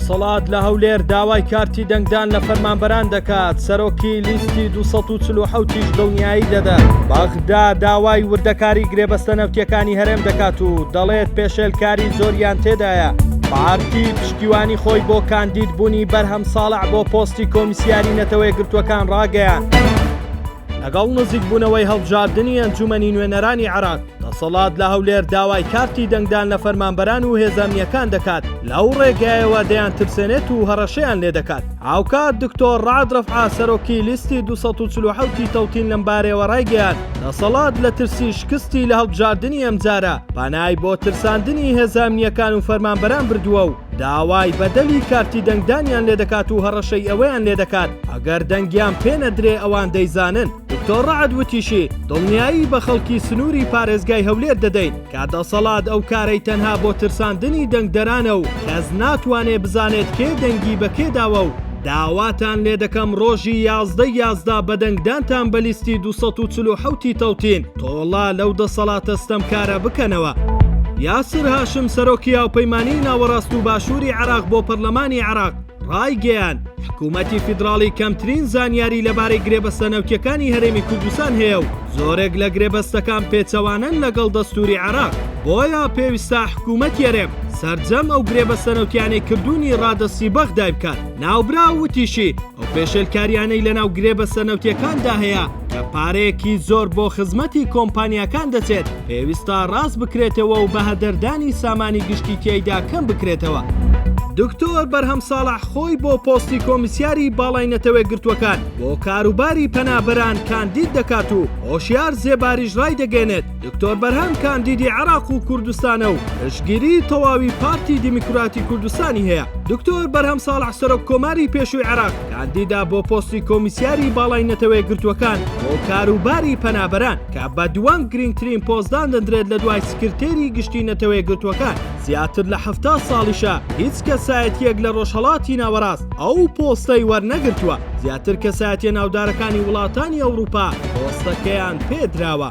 دەسەڵات لە هەولێر داوای کارتی دەنگدان لە فەرمانبەران دەکات سەرۆکی لیستی 1940 دڵنیایی دەدەن بەغدا داوای وردەکاری گرێبەستە نەوتیەکانی هەرێم دەکات و دەڵێت پێشێلکاری زۆریان تێدایە پارتی پشتیوانی خۆی بۆ کاندید بوونی بەرهەم ساڵع بۆ پۆستی کۆمیسیاری نەتەوەی گرتوەکان ڕاگەیان. لەگەڵ نزیکبوونەوەی هەڵبژاردنی ئەنجوومەنی نوێنەرانی عێراق، دەسەڵات لە هەولێر داوای کارتی دەنگدان لە فەرمانبەران و هێزە ئەمنییەکان دەکات، لەو ڕێگایەوە دەیانترسێنێت و هەڕەشەیان لێ دەکات. هاوکات دکتۆر ڕەعد ڕەفعە، سەرۆکی لیستی دوو سەد و چل و حەوت ی تەوتین لەمبارەیەوە ڕایگەیاند، دەسەڵات لە ترسی شکستی لە هەڵبژاردنی ئەمجارە، پەنای بۆ ترساندنی هێزە ئەمنییەکان و فەرمانبەران بردووە و، داوای بەدەلی کارتی دەنگدانیان لێدەکات و هەڕەشەی ئەوەیان لێدەکات ئەگەر دەنگیان پێ نەدرێ ئەوان دەیزانن. دکتۆر رەعد وتیشی، دڵنیایی بە خەڵکی سنووری پارێزگای هەولێر دەدەین کە دەسەڵات ئەو کارەی تەنها بۆ ترساندنی دەنگدەرانە و کەس ناتوانێ بزانێت کێ دەنگی بە کێ داوە و داواتان لێدەکەم رۆژی یازدە ی یازدە بە دەنگدانتان بە لیستی دوو سەد و چل و حەوت ی تەوتین تۆڵە لەو دەسەڵاتە ستەمکارە بکەنەوە. یاسر هاشم سەرۆکی هاوپەیمانیی ناوەڕاست و باشووری عێراق بۆ پەرلەمانی عێراق ڕایگەیاند، حکوومەتی فیدراڵی کەمترین زانیاری لەبارەی گرێبەستە نەوتییەکانی هەرێمی کوردستان هەیە و زۆرێک لە گرێبەستەکان پێچەوانەن لەگەڵ دەستووری عێراق، بۆیە پێویستە حکوومەتی هەرێم سەرجەم ئەو گرێبەستە نەوتییانەی کردوونی ڕادەستی بەغدای بکات. ناوبراو وتیشی، ئەو پێشێلکارییانەی لەناو گرێبەستە نەوتییەکاندا هەیە کە پارەیەکی زۆر بۆ خزمەتی کۆمپانیاکان دەچێت، پێویستە ڕاست بکرێتەوە و بەهەدەردانی سامانی گشتی تیایدا کەم بکرێتەوە. دکتۆر بەرهەم ساڵح خۆی بۆ پۆستی کۆمیسیاری باڵای نەتەوەیەکگرتووەکان بۆ کاروباری پەنابەران کاندید دەکات و هۆشیار زێباریش ڕایدەگەێنێت، دکتۆر بەرهەم کاندیدی عێراق و کوردستانە و پشتگیری تەواوی پارتی دیموکراتی کوردستانی هەیە دکتۆر بەرهەم ساڵح سەرۆک کۆماری پێشووی عێراق کاندیدا بۆ پۆستی کۆمیسیاری باڵای نەتەوەی گرتووەکان بۆ کاروباری پەنابەران کە بە دووەم گرنگترین پۆستدان دەدرێت لە دوای سکرتێری گشتی نەتەوەی گرتووەکان زیاتر لە هەفتا ساڵیشە هیچ کەسایەتیەک لە ڕۆژهەڵاتی ناوەڕاست ئەو پۆستەی وەرنەگرتووە زیاتر کەسایەتیە ناودارەکانی وڵاتانی ئەوروپا پۆستەکەیان پێدراوە